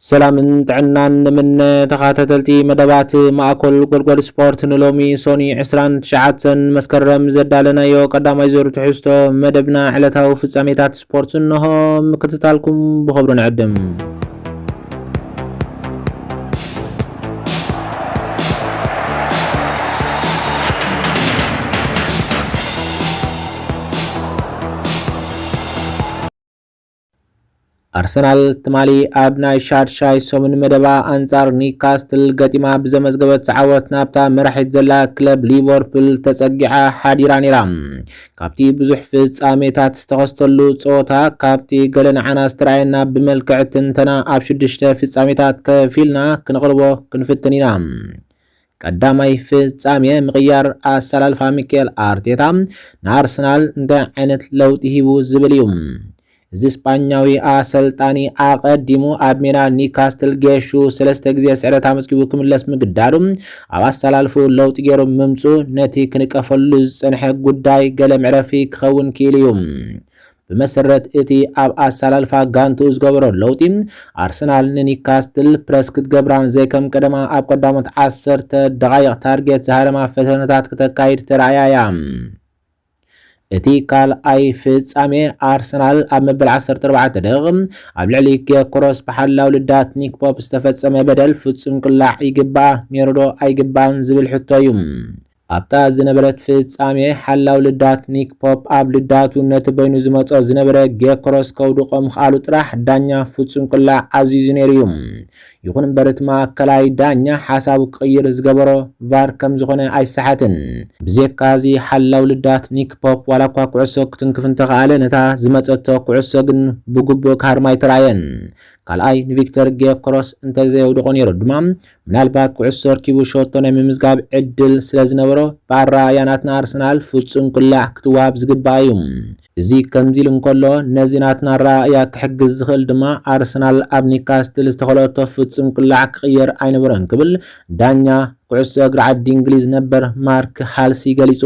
ሰላምን ጥዕናን ንምነ ተኻታተልቲ መደባት ማእኮል ጎድጎድ ስፖርት ንሎሚ ሶኒ ዕስራን ትሽዓተን መስከረም ዘዳለናዮ ቀዳማይ ዙር ትሕዝቶ መደብና ዕለታዊ ፍጻሜታት ስፖርት እንሆ ምክትታልኩም ብኽብሪ ንዕድም። ኣርሰናል ትማሊ ኣብ ናይ ሻድሻይ ሰሙን መደባ ኣንጻር ኒውካስትል ገጢማ ብዘመዝገበት ዓወት ናብታ መራሒት ዘላ ክለብ ሊቨርፑል ተጸጊዓ ሓዲራ ነይራ። ካብቲ ብዙሕ ፍጻሜታት ዝተኸስተሉ ጸወታ ካብቲ ገለ ንዓና ዝተረኣየና ብመልክዕ ትንተና ኣብ ሽዱሽተ ፍጻሜታት ከፊልና ክንቕርቦ ክንፍትን ኢና። ቀዳማይ ፍጻሜ ምቕያር ኣሰላልፋ ሚኬል ኣርቴታ ንኣርሰናል እንታይ ዓይነት ለውጢ ሂቡ ዝብል እዩ። እዚ ስጳኛዊ ኣሰልጣኒ ኣቐዲሙ ኣብ ሜዳ ኒካስትል ጌሹ ሰለስተ ግዜ ስዕረት ኣመዝጊቡ ክምለስ ምግዳዱ ኣብ ኣሰላልፍኡ ለውጢ ገይሩ ምምጽኡ ነቲ ክንቀፈሉ ዝጸንሐ ጉዳይ ገለ መዕረፊ ክኸውን ክኢሉ እዩ። ብመሰረት እቲ ኣብ ኣሰላልፋ ጋንትኡ ዝገበሮ ለውጢ፣ ኣርሰናል ንኒካስትል ፕረስ ክትገብራን ዘይከም ቀደማ ኣብ ቀዳሞት ዓሰርተ ደቓይቕ ታርጌት ዝሃረማ ፈተነታት ክተካይድ ተራእያ እያ። እቲ ካልኣይ ፍጻሜ፣ ኣርሰናል ኣብ መበል ዓሰርተ ኣርባዕተ ደቒቕ ኣብ ልዕሊ ጌዮኮረስ ብሓላው ልዳት ኒክ ፖፕ ዝተፈጸመ በደል ፍጹም ቅላዕ ይግብኣ ነይሩ'ዶ ኣይግብኣን ዝብል ሕቶ እዩ። ኣብታ ዝነበረት ፍጻሜ፣ ሓላው ልዳት ኒክ ፖፕ ኣብ ልዳቱ ነቲ በይኑ ዝመጾ ዝነበረ ጌክሮስ ከውድቖ ምኽኣሉ ጥራሕ ዳኛ ፍጹም ቅላዕ ኣዚዙ ነይሩ እዩ። ይኹን እምበር እቲ ማእከላይ ዳኛ ሓሳቡ ክቕይር ዝገበሮ ቫር ከም ዝኾነ ኣይሰሓትን። ብዜካ እዚ ሓላው ልዳት ኒክ ፖፕ ዋላ እኳ ኩዕሶ ክትንክፍ እንተኸኣለ ነታ ዝመጸቶ ኩዕሶ ግን ብግቡእ ክሃርማ ኣይተራእየን። ካልኣይ ንቪክተር ጌክሮስ እንተዘየውድቖ ነይሩ ድማ ምናልባት ኩዕሶ ኣርኪቡ ሸቶ ናይ ምምዝጋብ ዕድል ስለዝነበሮ፣ ብኣረኣእያ ናትና ኣርሰናል ፍጹም ቅላዕ ክትወሃብ ዝግብኣ እዩ። እዚ ከምዚ ኢሉ እንከሎ፣ ነዚ ናትና ኣረኣእያ ክሕግዝ ዝኽእል ድማ ኣርሰናል ኣብ ኒውካስትል ዝተኸለኦቶ ፍጹም ቅላዕ ክቕየር ኣይነበሮን ክብል ዳኛ ኩዕሶ እግሪ ዓዲ እንግሊዝ ነበር ማርክ ሃልሲ ገሊጹ።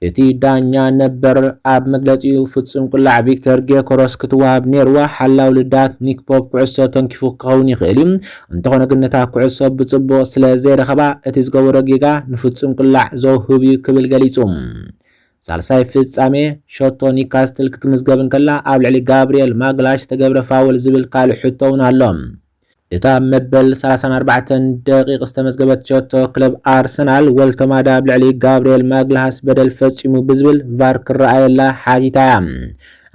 እቲ ዳኛ ነበር ኣብ መግለጺኡ፣ ፍጹም ቁላዕ ቪክተር ጌዮኮረስ ክትወሃብ ኔርዋ፣ ሓላው ልዳት ኒክ ፖፕ ኩዕሶ ተንኪፉ ክኸውን ይኽእል እዩ፣ እንተኾነ ግን ነታ ኩዕሶ ብጽቡቕ ስለ ዘይረኸባ እቲ ዝገበሮ ጌጋ ንፍጹም ቁላዕ ዘውህብ እዩ ክብል ገሊጹ። ሳልሳይ ፍጻሜ፣ ሸቶ ኒካስትል ክትምዝገብ እንከላ ኣብ ልዕሊ ጋብሪኤል ማግላሽ ዝተገብረ ፋውል ዝብል ካልእ ሕቶ'ውን ኣሎ። እታ ኣብ መበል ሰላሳን ኣርባዕተን ደቒቕ ዝተመዝገበት ሸቶ፣ ክለብ ኣርሰናል ወልተማዳ ኣብ ልዕሊ ጋብርኤል ማግልሃስ በደል ፈጺሙ ብዝብል ቫር ክረኣየላ ሓቲታ እያ።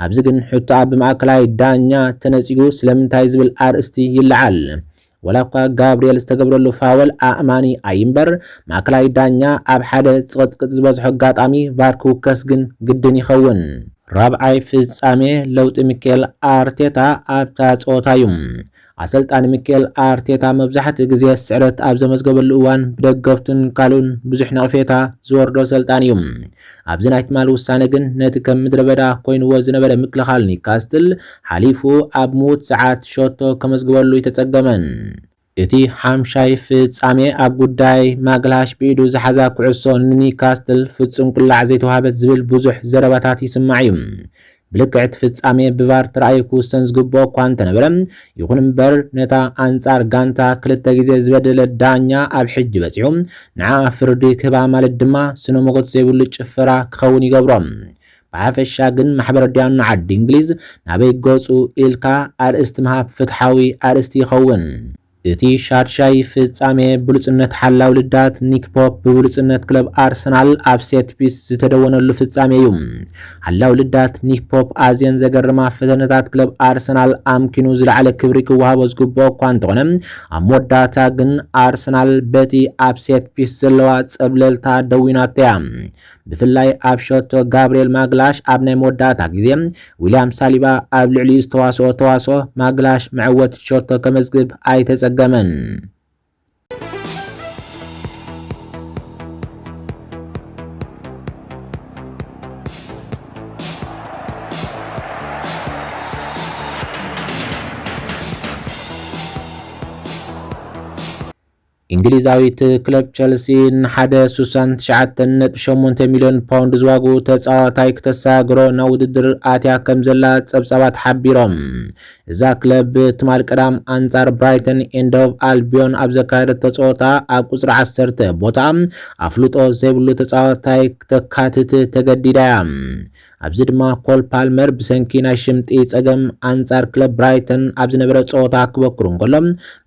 ኣብዚ ግን ሕቶኣ ብማእከላይ ዳኛ ተነጺጉ ስለምንታይ ዝብል ኣርእስቲ ይለዓል። ዋላኳ ጋብርኤል ዝተገብረሉ ፋወል ኣእማኒ ኣይንበር፣ ማእከላይ ዳኛ ኣብ ሓደ ጽቕጥቅጥ ዝበዝሖ ኣጋጣሚ ቫር ክውከስ ግን ግድን ይኸውን። ራብዓይ ፍጻሜ ለውጢ ሚኬል ኣርቴታ ኣብታ ጸወታ እዩ። ኣሰልጣኒ ሚኬል ኣርቴታ መብዛሕትኡ ግዜ ስዕረት ኣብ ዘመዝገበሉ እዋን ብደገፍቱን ካልኡን ብዙሕ ነቕፌታ ዝወርዶ ኣሰልጣኒ እዩ። ኣብዚ ናይ ትማል ውሳነ ግን ነቲ ከም ምድረበዳ ኮይንዎ ዝነበረ ምክልኻል ኒውካስትል ሓሊፉ ኣብ ምዉት ሰዓት ሸቶ ከመዝግበሉ ኣይተጸገመን። እቲ ሓምሻይ ፍጻሜ ኣብ ጉዳይ ማግልሃሽ ብኢዱ ዝሓዛ ኩዕሶ ንኒካስትል ፍጹም ቅላዕ ዘይተዋህበት ዝብል ብዙሕ ዘረባታት ይስማዕ እዩ። ብልክዕ እቲ ፍጻሜ ብቫር ተራእዩ ክውሰን ዝግብኦ እኳ እንተነበረ፣ ይኹን እምበር ነታ ኣንጻር ጋንታ ክልተ ግዜ ዝበደለ ዳኛ ኣብ ሕጂ በጺሑ ንዓኣ ፍርዲ ክህባ ማለት ድማ ስነ-ሞጎት ዘይብሉ ጭፈራ ክኸውን ይገብሮ። ብሓፈሻ ግን ማሕበረ ድያኑ ዓዲ እንግሊዝ ናበይ ገጹ ኢልካ ኣርእስቲ ምሃብ ፍትሓዊ ኣርእስቲ ይኸውን። እቲ ሻድሻይ ፍጻሜ ብሉጽነት ሓላው ልዳት ኒክ ፖፕ ብብሉጽነት ክለብ ኣርሰናል ኣብ ሴት ፒስ ዝተደወነሉ ፍጻሜ'ዩ። ሓላው ልዳት ኒክ ፖፕ ኣዝየን ዘገርማ ፈተነታት ክለብ ኣርሰናል ኣምኪኑ ዝለዓለ ክብሪ ክወሃቦ ዝግብኦ እኳ እንተኾነ ኣብ መወዳእታ ግን ኣርሰናል በቲ ኣብ ሴት ፒስ ዘለዋ ጸብለልታ ደዊናቶ'ያ። ብፍላይ ኣብ ሸቶ ጋብርኤል ማግላሽ ኣብ ናይ መወዳእታ ግዜ ዊልያም ሳሊባ ኣብ ልዕሊኡ ዝተዋስኦ ተዋስኦ ማግላሽ መዐወቲ ሸቶ ከመዝግብ ኣይተጸገመን። እንግሊዛዊት ክለብ ቸልሲ ንሓደ ስሳን ትሽዓተን ነጥቢ ሸሞንተ ሚልዮን ፓውንድ ዝዋግኡ ተጻዋታይ ክተሰጋግሮ ናብ ውድድር ኣትያ ከም ዘላ ጸብጻባት ሓቢሮም። እዛ ክለብ ትማል ቀዳም ኣንጻር ብራይተን ኤንድ ሆቭ ኣልቢዮን ኣብ ዘካየደቶ ጸወታ ኣብ ቁጽሪ ዓሰርተ ቦታኣ ኣፍልጦ ዘይብሉ ተጻዋታይ ክተካትት ተገዲዳ እያ። ኣብዚ ድማ ኮል ፓልመር ብሰንኪ ናይ ሽምጢ ጸገም ኣንጻር ክለብ ብራይተን ኣብ ዝነበረ ጸወታ ክበኩር እንከሎ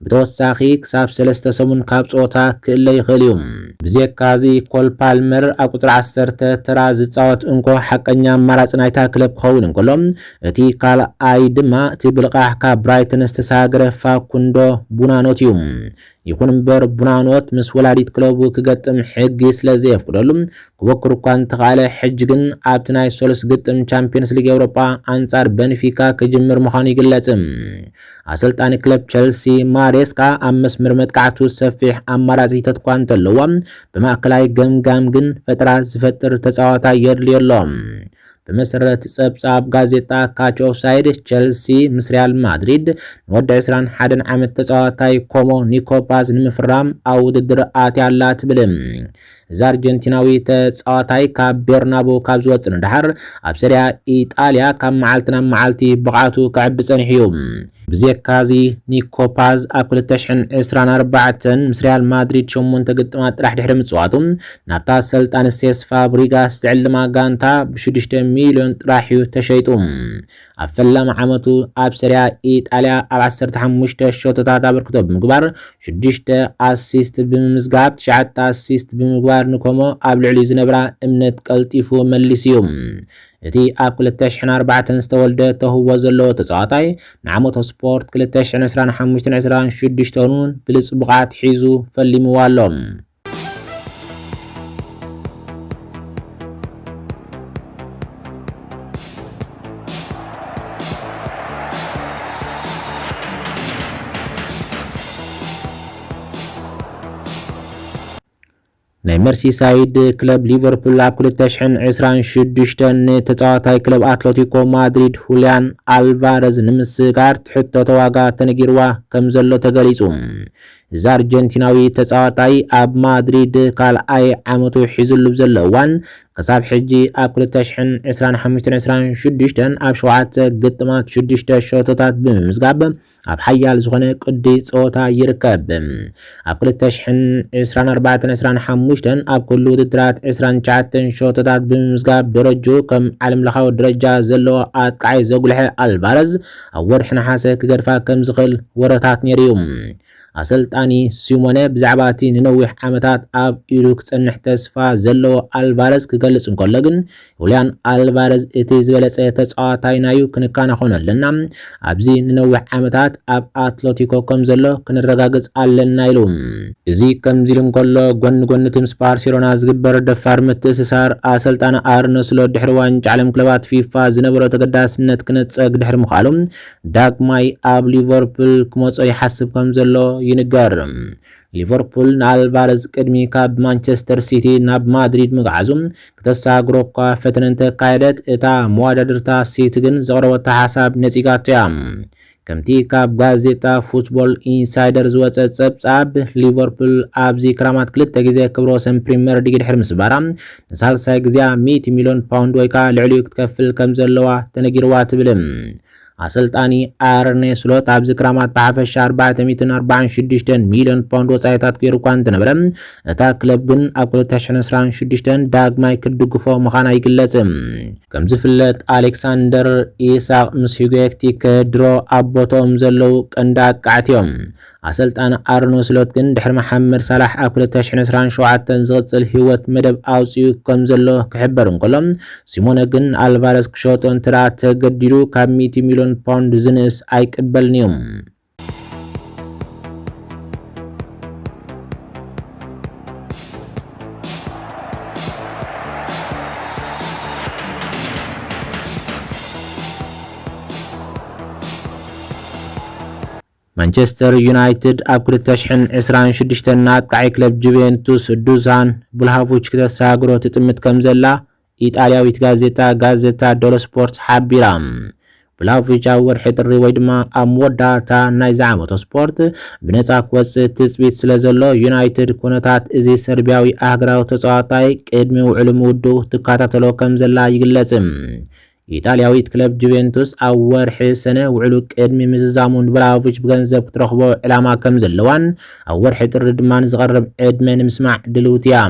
ብተወሳኺ ክሳብ ሰለስተ ሰሙን ካብ ጸወታ ክእለ ይኽእል እዩ። ብዜካዚ ኮል ፓልመር ኣብ ቁጽሪ ዓሰርተ ተራ ዝጻወት እንኮ ሓቀኛ ኣማራጺ ናይታ ክለብ ክኸውን እንከሎ እቲ ካልኣይ ድማ እቲ ብልቓሕ ካብ ብራይተን ዝተሳገረ ፋኩንዶ ቡናኖት እዩ። ይኹን እምበር ቡናኖት ምስ ወላዲት ክለቡ ክገጥም ሕጊ ስለ ዘየፍቅደሉ ክቦክር እኳ እንተኻእለ ሕጂ ግን ኣብቲ ናይ ሰሉስ ግጥም ቻምፕዮንስ ሊግ ኤውሮጳ ኣንጻር በንፊካ ክጅምር ምዃኑ ይግለጽ። ኣሰልጣኒ ክለብ ቸልሲ ማሬስካ ኣብ መስመር መጥቃዕቱ ሰፊሕ ኣማራጺታት እኳ እንተለዎ ብማእከላይ ገምጋም ግን ፈጠራ ዝፈጥር ተጻዋታይ የድልዮ ኣሎ። ብመሰረት ጸብጻብ ጋዜጣ ካች ኦፍ ሳይድ፣ ቸልሲ ምስ ሪያል ማድሪድ ንወዲ ዕስራን ሓደን ዓመት ተጻዋታይ ኮሞ ኒኮ ፓዝ ንምፍራም ኣብ ውድድር ኣትያ ኣላ ትብል። እዚ ኣርጀንቲናዊ ተጻዋታይ ካብ ቤርናቡ ካብ ዝወጽእ ንደሓር ኣብ ሰሪያ ኢጣልያ ካብ መዓልቲ ናብ መዓልቲ ብቕዓቱ ክዕቢ ጸኒሑ እዩ። ብዜካ እዚ ኒኮ ፓዝ ኣብ ክልተ ሽሕን ዕስራን ኣርባዕተን ምስ ሪያል ማድሪድ ሸሞንተ ግጥማት ጥራሕ ድሕሪ ምጽዋቱ ናብታ ኣሰልጣኒ ሴስ ፋብሪጋስ ዝዕልማ ጋንታ ብሽዱሽተ ሚልዮን ጥራሕ እዩ ተሸይጡ። ኣብ ፈላሚ ዓመቱ ኣብ ሰሪያ ኢጣልያ ኣብ ዓሰርተ ሓሙሽተ ሸቶታት ኣበርክቶ ብምግባር ሽዱሽተ ኣሲስት ብምምዝጋብ ትሽዓተ ኣሲስት ብምግባር ንኮሞ ኣብ ልዕሊኡ ዝነበራ እምነት ቀልጢፉ መሊሱ'ዩ። እቲ ኣብ ክልተ ሽሕን ኣርባዕተን ዝተወልደ ተውህቦ ዘለዎ ተጻዋታይ፣ ንዓመተ ስፖርት ክልተ ሽሕን ዕስራን ሓሙሽተን ዕስራን ሽዱሽተን'ውን ብልጽ ብቕዓት ሒዙ ፈሊምዋ ኣሎ። ናይ መርሲሳይድ ክለብ ሊቨርፑል ኣብ ክልተ ሽሕን ዕስራን ሽዱሽተን ንተጻዋታይ ክለብ ኣትለቲኮ ማድሪድ ሁልያን ኣልቫረዝ ንምስግጋር ትሕተቶ ዋጋ ተነጊርዋ ከምዘሎ ተገሊጹ። እዚ ኣርጀንቲናዊ ተጻዋታይ ኣብ ማድሪድ ካልኣይ ዓመቱ ሒዝሉ ብዘሎ እዋን ክሳብ ሕጂ ኣብ ክልተ ሽሕን ዕስራን ሓሙሽተን ዕስራን ሽዱሽተን ኣብ ሸውዓተ ግጥማት ሽዱሽተ ሸቶታት ብምምዝጋብ ኣብ ሓያል ዝኾነ ቅዲ ጸወታ ይርከብ። ኣብ ክልተ ሽሕን ዕስራን ኣርባዕተን ዕስራን ሓሙሽተን ኣብ ኩሉ ውድድራት ዕስራን ትሽዓተን ሸቶታት ብምምዝጋብ ደረጅኡ ከም ዓለምለኻዊ ደረጃ ዘለዎ ኣጥቃዓይ ዘጉልሐ ኣልቫረዝ ኣብ ወርሒ ነሓሰ ክገድፋ ከም ዝኽእል ወረታት ነይሩ'ዩ። ኣሰልጣኒ ሲሞነ ብዛዕባ እቲ ንነዊሕ ዓመታት ኣብ ኢዱ ክጸንሕ ተስፋ ዘለዎ ኣልቫረዝ ክገልጽ እንከሎ ግን ሁልያን ኣልቫረዝ እቲ ዝበለጸ ተጻዋታይና'ዩ፣ ክንከናኸኖ ኣለና፣ ኣብዚ ንነዊሕ ዓመታት ኣብ ኣትለቲኮ ከም ዘሎ ክንረጋግጽ ኣለና ኢሉ። እዚ ከምዚ'ሉ እንከሎ፣ ጎኒ ጎኒ'ቲ ምስ ባርሴሎና ዝግበር ደፋር ምትእስሳር፣ ኣሰልጣኒ ኣርነ ስሎት ድሕሪ ዋንጫ ዓለም ክለባት ፊፋ ዝነበሮ ተገዳስነት ክነጸግ ድሕሪ ምኽኣሉ፣ ዳግማይ ኣብ ሊቨርፑል ክመጾ ይሓስብ ከም ዘሎ ይንገር። ሊቨርፑል ንኣልቫረዝ ቅድሚ ካብ ማንቸስተር ሲቲ ናብ ማድሪድ ምግዓዙ ክተሰጋግሮ'ኳ ፈተነ እንተካየደት፣ እታ መወዳድርታ ሲቲ ግን ዘቕረበቶ ሓሳብ ነጺጋቶ'ያ። ከምቲ ካብ ጋዜጣ ፉትቦል ኢንሳይደር ዝወጸ ጸብጻብ፣ ሊቨርፑል ኣብዚ ክራማት ክልተ ግዜ ክብረ ወሰን ፕሪመር ሊግ ድሕሪ ምስባራ፣ ንሳልሳይ ግዜኣ ሚእቲ ሚልዮን ፓውንድ ወይ ከኣ ልዕሊኡ ክትከፍል ከምዘለዋ ተነጊርዋ ትብል። ኣሰልጣኒ ኣርኔ ስሎት ኣብዚ ክራማት ብሓፈሻ ኣርባዕተ ሚእትን ኣርባዓን ሽዱሽተን ሚልዮን ፓውንድ ወጻኢታት ገይሩ እኳ እንተነበረ እታ ክለብ ግን ኣብ ክልተ ሽሕን ዕስራን ሽዱሽተን ዳግማይ ክትድግፎ ምዃና ይግለጽ። ከም ዝፍለጥ ኣሌክሳንደር ኢሳቕ ምስ ሂጎ ኤክቲከ ድሮ ኣብ ቦትኦም ዘለዉ ቀንዲ ኣጥቃዕቲ እዮም። ኣሰልጣኒ ኣርነ ስሎት ግን ድሕሪ መሓመድ ሳላሕ ኣብ ክልተ ሽሕን ዕስራን ሸውዓተን ዝቕጽል ህይወት መደብ ኣውጺኡ ከም ዘሎ ክሕበር እንከሎ፣ ሲሞነ ግን ንኣልቫረዝ ክሸጦ እንተድኣ ተገዲዱ ካብ ሚእቲ ሚልዮን ፓውንድ ዝንእስ ኣይቅበልን'ዩ። ማንቸስተር ዩናይትድ ኣብ ክልተ ሽሕን ዕስራን ሽዱሽተን ንኣጥቃዒ ክለብ ጁቬንቱስ ዱዛን ቭልሃቮች ክተሰጋግሮ ትጥምት ከምዘላ ኢጣልያዊት ጋዜጣ ጋዘታ ደሎ ስፖርት ሓቢራ። ቭላሆቪች ኣብ ወርሒ ጥሪ ወይ ድማ ኣብ መወዳእታ ናይዚ ዓመቶ ስፖርት ብነፃ ክወፅእ ትፅቢት ስለዘሎ ዩናይትድ ኩነታት እዚ ሰርቢያዊ ኣህግራዊ ተፀዋታይ ቅድሚ ውዕሉ ምውድኡ ትከታተሎ ከምዘላ ይግለፅ። ኢጣልያዊት ክለብ ጁቬንቱስ ኣብ ወርሒ ሰነ ውዕሉ ቅድሚ ምዝዛሙ ንብራሆቪች ብገንዘብ ክትረኽቦ ዕላማ ከምዘለዋን ኣብ ወርሒ ጥሪ ድማ ንዝቐርብ ዕድመ ንምስማዕ ድልውቲ እያ።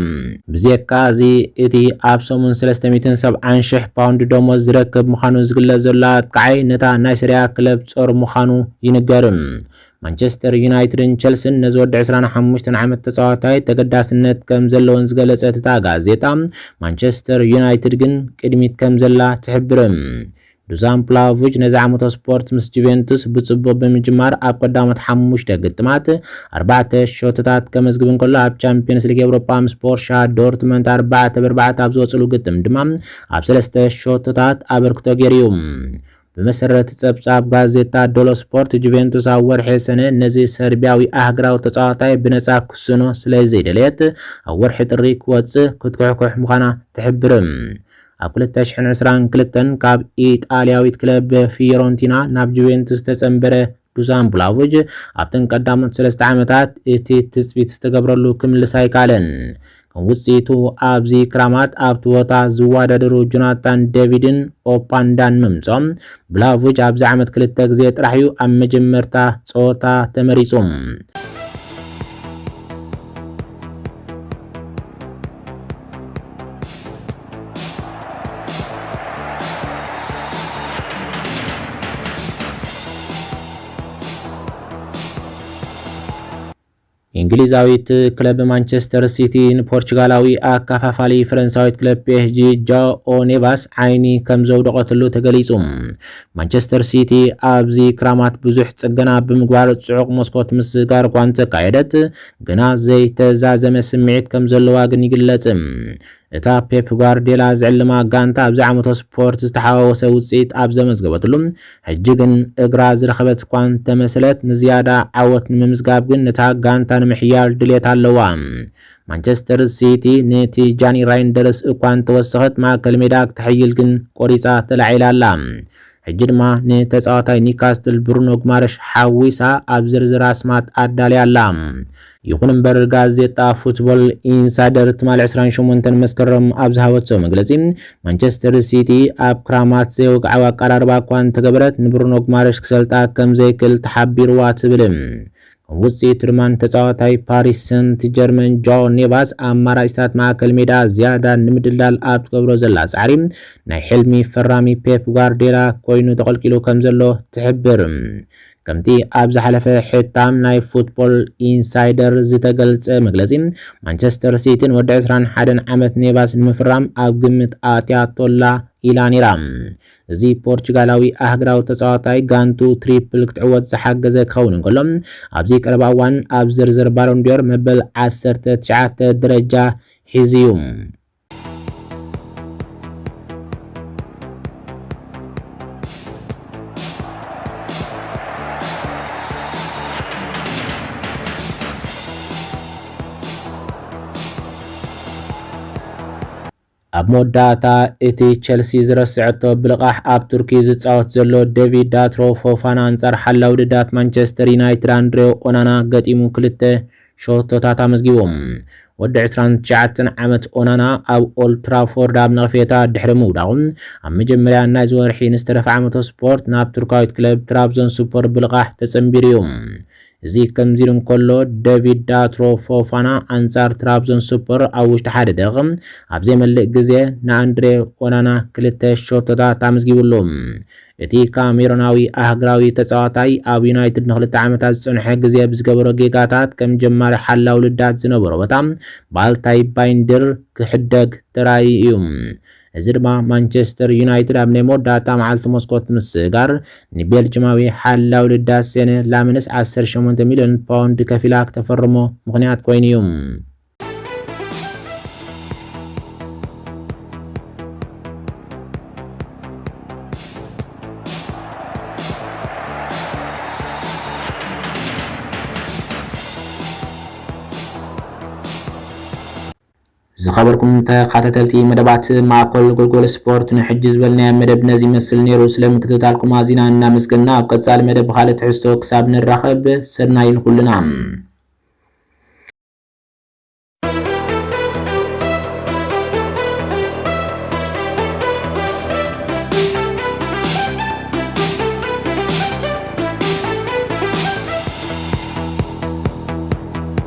ብዜካ እዚ እቲ ኣብ ሰሙን ሰለስተ ሚእትን ሰብዓን ሽሕ ፓውንድ ደሞዝ ዝረክብ ምዃኑ ዝግለጽ ዘሎ ኣጥቃዓይ ነታ ናይ ሰሪኣ ክለብ ጾር ምዃኑ ይንገር። ማንቸስተር ዩናይትድን ቸልስን ነዚ ወዲ ዕስራን ሓሙሽተን ዓመት ተጻዋታይ ተገዳስነት ከም ዘለወን ዝገለጸት እታ ጋዜጣ፣ ማንቸስተር ዩናይትድ ግን ቅድሚት ከም ዘላ ትሕብር። ዱዛን ፕላሆቪች ነዚ ዓመተ ስፖርት ምስ ጁቬንቱስ ብጽቡቕ ብምጅማር ኣብ ቀዳሞት ሓሙሽተ ግጥማት ኣርባዕተ ሸቶታት ከመዝግብ እንከሎ ኣብ ቻምፕዮንስ ሊግ ኤውሮጳ ምስ ቦርሻ ዶርትመንት ኣርባዕተ ብኣርባዕተ ኣብ ዝወጽሉ ግጥም ድማ ኣብ ሰለስተ ሸቶታት ኣበርክቶ ገይሩ እዩ። ብመሰረት ጸብጻብ ጋዜጣ ዶሎ ስፖርት፣ ጁቬንቱስ ኣብ ወርሒ ሰነ ነዚ ሰርቢያዊ ኣህግራዊ ተጻዋታይ ብነጻ ክስእኖ ስለዘይደለየት፣ ኣብ ወርሒ ጥሪ ክወጽእ ክትኩሕኩሕ ምዃና ትሕብር። ኣብ ክልተ ሽሕን ዕስራን ክልተን ካብ ኢጣልያዊት ክለብ ፊዮረንቲና ናብ ጁቬንቱስ ዝተጸንበረ ዱዛን ቡላቮጅ ኣብተን ቀዳሞት ሰለስተ ዓመታት እቲ ትጽቢት ዝተገብረሉ ክምልስ ኣይከኣለን። ከም ውጽኢቱ ኣብዚ ክራማት ኣብቲ ቦታ ዝወዳደሩ ጆናታን ደቪድን ኦፓንዳን ምምጾም፣ ቡላቮጅ ኣብዚ ዓመት ክልተ ግዜ ጥራሕ'ዩ ኣብ መጀመርታ ጸወታ ተመሪጹ። እንግሊዛዊት ክለብ ማንቸስተር ሲቲ ንፖርቹጋላዊ ኣካፋፋሊ ፈረንሳዊት ክለብ ፒኤስጂ ጃኦ ኔቫስ ዓይኒ ከም ዘውደቐትሉ ተገሊጹ። ማንቸስተር ሲቲ ኣብዚ ክራማት ብዙሕ ጽገና ብምግባር ጽዑቕ መስኮት ምስጋር እኳ እንተካየደት ግና ዘይተዛዘመ ስምዒት ከም ዘለዋ ግን ይግለጽ። እታ ፔፕ ጓርድዮላ ዝዕልማ ጋንታ ኣብዚ ዓመቶ ስፖርት ዝተሓዋወሰ ውጽኢት ኣብ ዘመዝገበትሉ፣ ሕጂ ግን እግራ ዝረኸበት እኳ እንተመሰለት፣ ንዝያዳ ዓወት ንምምዝጋብ ግን ነታ ጋንታ ንምሕያል ድሌት ኣለዋ። ማንቸስተር ሲቲ ነቲ ጃኒ ራይንደርስ እኳ እንተወሰኸት፣ ማእከል ሜዳ ክተሕይል ግን ቆሪጻ ተላዒላ ኣላ። ሕጂ ድማ ንተጻዋታይ ኒካስትል ብሩኖ ግማረሽ ሓዊሳ ኣብ ዝርዝር ኣስማት ኣዳልያ ኣላ። ይኹን እምበር ጋዜጣ ፉትቦል ኢንሳይደር ትማሊ ዕስራን ሸሞንተን መስከረም ኣብ ዝሃበቶ መግለጺ ማንቸስተር ሲቲ ኣብ ክራማት ዘይወግዓዊ ኣቀራርባ እኳ እንተገበረት ንብሩኖ ግማረሽ ክሰልጣ ከምዘይክል ተሓቢሩዋ ትብል። ውጽኢት ድማ ንተጻዋታይ ፓሪስ ሰንት ጀርመን ጃኦ ኔቫስ ኣማራጺታት ማእከል ሜዳ ዝያዳ ንምድልዳል ኣብ ትገብሮ ዘላ ጻዕሪ ናይ ሕልሚ ፈራሚ ፔፕ ጓርዲዮላ ኮይኑ ተቐልቂሉ ከም ዘሎ ትሕብር። ከምቲ ኣብ ዝሓለፈ ሕታም ናይ ፉትቦል ኢንሳይደር ዝተገልጸ መግለጺ፣ ማንቸስተር ሲቲ ንወዲ ዕስራን ሓደን ዓመት ኔቫስ ንምፍራም ኣብ ግምት ኣእትያቶ'ላ ኢላ ነይራ። እዚ ፖርቹጋላዊ ኣህግራዊ ተጻዋታይ ጋንትኡ ትሪፕል ክትዕወት ዝሓገዘ ክኸውን እንከሎ፣ ኣብዚ ቀረባ እዋን ኣብ ዝርዝር ባሎን ዲዮር መበል ዓሰርተ ትሽዓተ ደረጃ ሒዙ'ዩ። ኣብ መወዳእታ እቲ ቸልሲ ዝረሰዐቶ ብልቓሕ ኣብ ቱርኪ ዝጻወት ዘሎ ደቪድ ዳትሮ ፎፋና ኣንጻር ሓላዊ ደዳት ማንቸስተር ዩናይትድ ኣንድሬው ኦናና ገጢሙ ክልተ ሸቶታት ኣመዝጊቡ። ወዲ ዕስራን ትሽዓተን ዓመት ኦናና ኣብ ኦልድ ትራፎርድ ኣብ ነቕፌታ ድሕሪ ምውዳቑ ኣብ መጀመርያ ናይዚ ወርሒ ንዝተረፈ ዓመቶ ስፖርት ናብ ቱርካዊት ክለብ ትራብዞንስፖር ብልቓሕ ተጸንቢሩ እዩ። እዚ ከምዚ ኢሉ እንከሎ ደቪድ ዳትሮ ፎፋና ኣንጻር ትራብዞን ስፖር ኣብ ውሽጢ ሓደ ደቕ ኣብ ዘይመልእ ግዜ ንኣንድሬ ኦናና ክልተ ሸቶታት ኣመዝጊቡሉ። እቲ ካሜሮናዊ ኣህግራዊ ተጻዋታይ ኣብ ዩናይትድ ንክልተ ዓመታት ዝጸንሐ ግዜ ብዝገበሮ ጌጋታት ከም ጀማሪ ሓላዊ ልዳት ዝነበሮ ቦታ ባልታይ ባይንድር ክሕደግ ተራእዩ እዩ። እዚ ድማ ማንቸስተር ዩናይትድ ኣብ ናይ መወዳእታ መዓልቲ መስኮት ምስጋር ንቤልጅማዊ ሓላዊ ልዳት ሴነ ላምንስ ዓሰርተ ሸሞንተ ሚልዮን ፓውንድ ከፊላ ክተፈርሞ ምኽንያት ኮይኑ እዩ። ዝኸበርኩም ተኻታተልቲ መደባት ማእኮል ጎልጎል ስፖርት ንሕጂ ዝበልናዮ መደብ ነዚ ይመስል ኔሩ ስለ ምክትታልኩም ኣዚና እናመስገና ኣብ ቀጻሊ መደብ ብኻልእ ትሕዝቶ ክሳብ ንራኸብ ሰናይ ንኹልና።